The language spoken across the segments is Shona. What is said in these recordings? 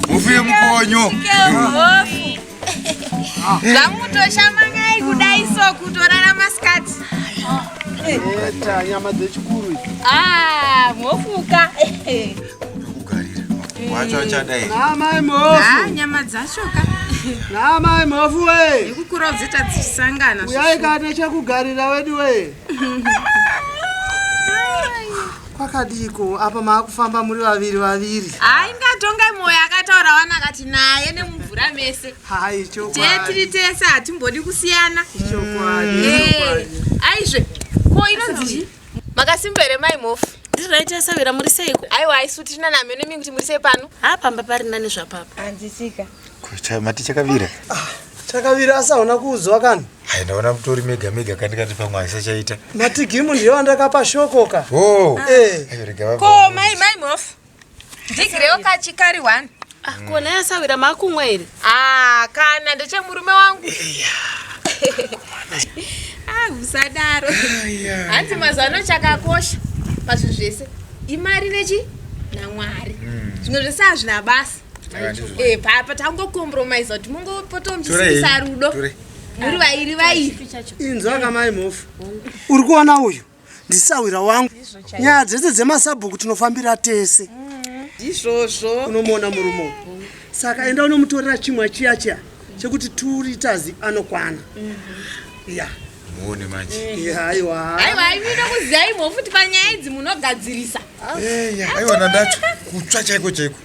mufuye mukonyo zvamutoshamakai kudai so kutorara masikati nyama dzechikuru ah, mhofuka wacho achadai namai mhofu nyama dzacho ka namai mhofu we nekukura udzita dzisangana uyai ka nechekugarira wedu we kwakadiko apa maakufamba muri vaviri vaviri aingatongai mwoyo akataura wana akati naye nemumvura mese hai tiri tese hatimbodi kusiyana ichokwadi eh, aizve ko inonzii makasimba here mai mhofu ndiri right yasavira muri seiko aiwa isu tiri nani hameno mi kuti muri sei pano ha pamba pari nani zvapapa hanzisika mati chakavira ah, chakavira asaona kuudzwa kana hai ndaona mutori mega mega kandikati pamwe aisachaita matigimu ndiyo andakapa shokoka o oh. eh. ko mai mai mhofu ndigirewo kachikari one ah, kona yasawira makumwa here ah, kana ndechemurume wangu ah, usadaro hanzi mazano chakakosha pazvinhu zvese imari nechi namwari hmm. zvimwe zvese hazvina basa eh, papa tangokompromise kuti mungopota muchisisa rudo muri vairi vairi inzwa kamai mhofu uri kuona uyu ndisahwira wangu nyaya dzese dzemasabhuku tinofambira tese mm-hmm. ndizvozvo unomuona murume saka enda unomutorera chimwa chiya chiya chekuti two liters anokwana mm-hmm. ya muone manje eh. aiwa aiwa inoda kuziva imwe futi panyaya idzi munogadzirisa eh, aiwa nandacho kutsva chaiko chaiko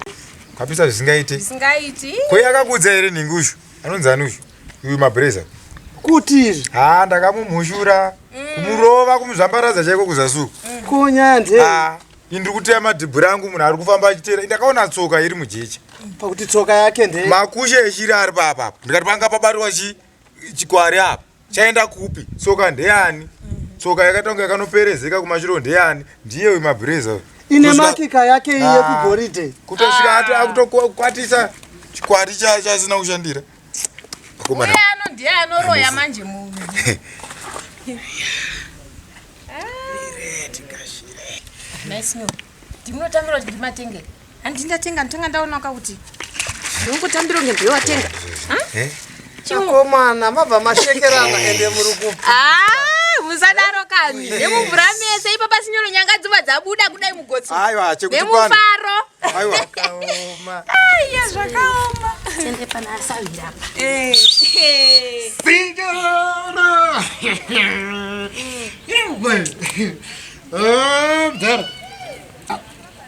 kapisa zvisingaiti zvisingaiti ko yakakuudza here nhingi uzvo anonzi ani uyu uyu mabreza kutizve ha ndakamumhushura mm. kumurova kumuzvambaradza chaiko kuzasuku mm. konyande ah, indiri kuteya madhibhuri angu munhu ari kufamba achiteera ndakaona tsoka iri mujecha mm, pakuti tsoka yake nde makushe eshiri ari paapa ndikati panga pabariwa chikwari apa chaenda kupi tsoka ndeyani tsoka yakatanga yakanoperezeka kumashiro ndeyani ndiye uyu mabhureza uyu ine Kusvika- makika yake iyi Ah. yekugoridhe kutosvika ati akutokwatisa chikwati cha- chasina kushandira akomana uye ano ndiye anoroya manje munhu nice new ndimunotangira kuti ndimatengere Handi ndatenga ndotanga ndaona ka kuti ndongotambiro kunge ndiwe watenga. Eh? Chikomana mabva mashekerana eh. ende muri ku. Ah, musadaro kani. Eh. Nemumvura mese ipapa sinyoro nyanga dzova dzabuda kudai mugotsi. Aiwa, chekuti pano. Nemufaro. Aiwa. Zvakaoma. Aiya, zvakaoma. Tende pana asawira apa. Eh. Sinyoro. Iwe. Oh, dar.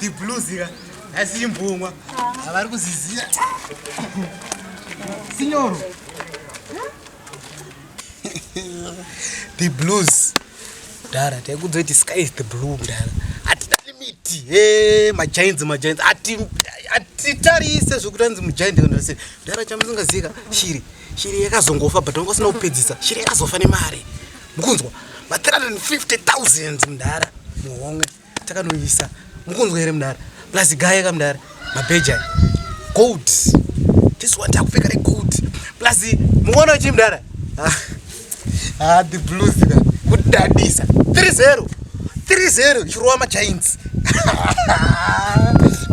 tibluzi ka asi imbumwa havari kuziziva sinyoro the blues dara taikudzoti sky is the blue dara hatina limiti he majainzi majainzi hatitarise zvekuti anzi mujaindi kandarise dara chamusingazika shiri shiri yakazongofa but vanga usina kupedzisa shiri yakazofa nemari mukunzwa ma 350 000 mdara muhomwe takanoisa mukunzwa here mudara plus gaye ka mudara mabheja gold this one takupfeka regold plus muona uchi mudara ah, ah the blues ka kudadisa 30 30 chirowa machains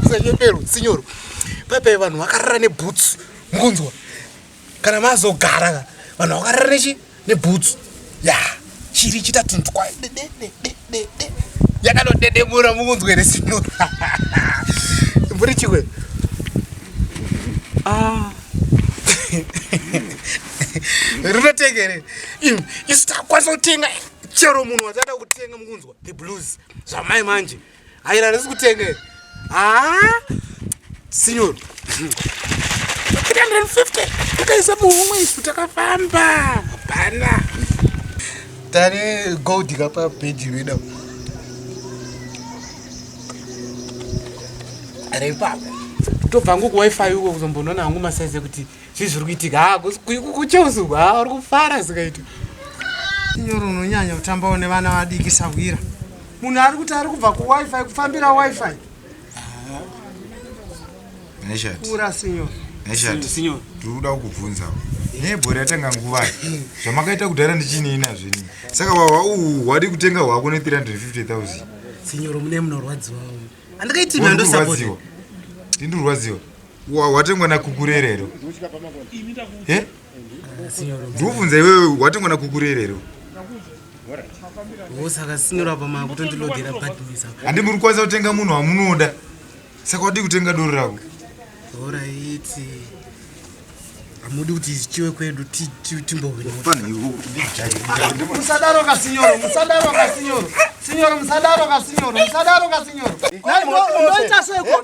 kusanyepero sinyoro paipai vanhu vakarara neboots mukunzwa kana mazogara ka vanhu vakarara nechi nebhutsu ya chiri chita tuntu kwa dedededede yakanodedemura mukunzwe resino mburi chikwe ah. rinotengere im isu takwanisa kutenga chero munhu watada kutenga mukunzwa the blues zvamai manje Ayi la resi kutenge. Ah! Signor. 350. Takaisa muhomwe isu takafamba. Bana. Tare gold kapa page reader. Are papa. Tobva ngo ku wifi uko kuzombonona hangu masaize kuti Chii zviri kuitika? Ha, kucheusu ha uri kufara sikaita. Nyoro unonyanya kutambawo nevana vadiki sahwira. Munhu ari kuti ari kubva kuWiFi kufambira WiFi. Neshati. Ura sinyoro. Neshati. Sinyoro. Tiri kuda kukubvunzawo. nebhori yatanga nguva zvamakaita kudhara ndichineina zvini saka wahwa uhu hwadi kutenga hwako ne 350000 sinyoro mune munorwadziwa andikaitimandosarwadziwa ndindurwadziwa watengwa nakukurerero eh? ndikubvunza iwewe watengwa nakukurerero osaka sinyora pamaya kutondilodera bhadhisa handi muri kwanisa kutenga munhu wamunoda saka wadii kutenga doro rako oraiti hamudi kuti zvichiwe kwedu timbohwinomusadaro kasinyoro musadaro kasinyoro sinyoro musadaro kasinyoro musadaro kasinyoro ndoita seko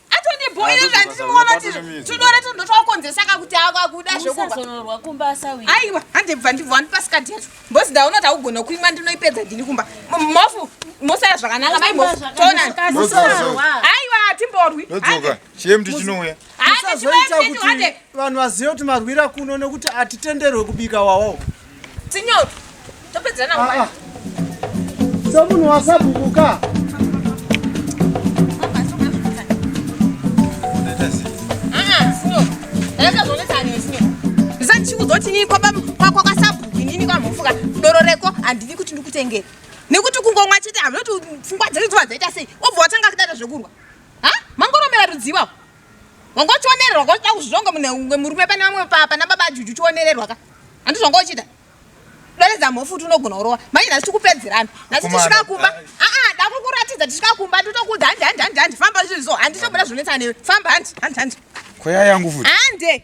atondibhoira zvandinoona tiri tudore tondo twakonzesa kakuti akwakuda zvekubazonorwa kumba asawi aiwa handibva ndibva wandipasikadhi yacho mbozi ndaona taugona kuimwa ndinoipedza ndini kumba mofu mosara zvakanaka mai mofu tona aiwa hatimborwi chiyemti chinouya musazoita kuti vanhu vazive kuti marwira kuno nekuti hatitenderwe kubika wawawo Signor, topedzana ah, ah. Someone was up kuka. zvotinii kwakwasabuku inini kwamhofuka doro reko handidi kuti ndikutengere nekuti kungomwa chete hamnoti pfungwa dzedu dzova dzaita sei obva watanga kudada zvekurwa ha mangoromera rudziwa wanga uchionererwa ka uchida kuzvizvonga mune murume pane vamwe pana baba ajuju uchionererwa ka handi zvanga uchida doredza mhofu kuti unogona kurova manje nhasi tikupedzerana nhasi tisvika kumba aa ah, ah, dakukuratidza tisvika kumba nditokuudza handi handi handi handi famba zvirizvo handitobuda zvinonetsa newe famba handi handi handi koya yangu futi hande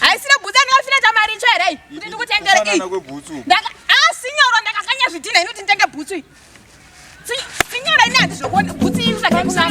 haisina bhutsu andikafina chamari icho here kuti ndikutengere asinyoro ndakakanya zvidhina inoti nditenge bhutsu iyi sinyora ini handizvokuona bhutsu iyi usakakusaa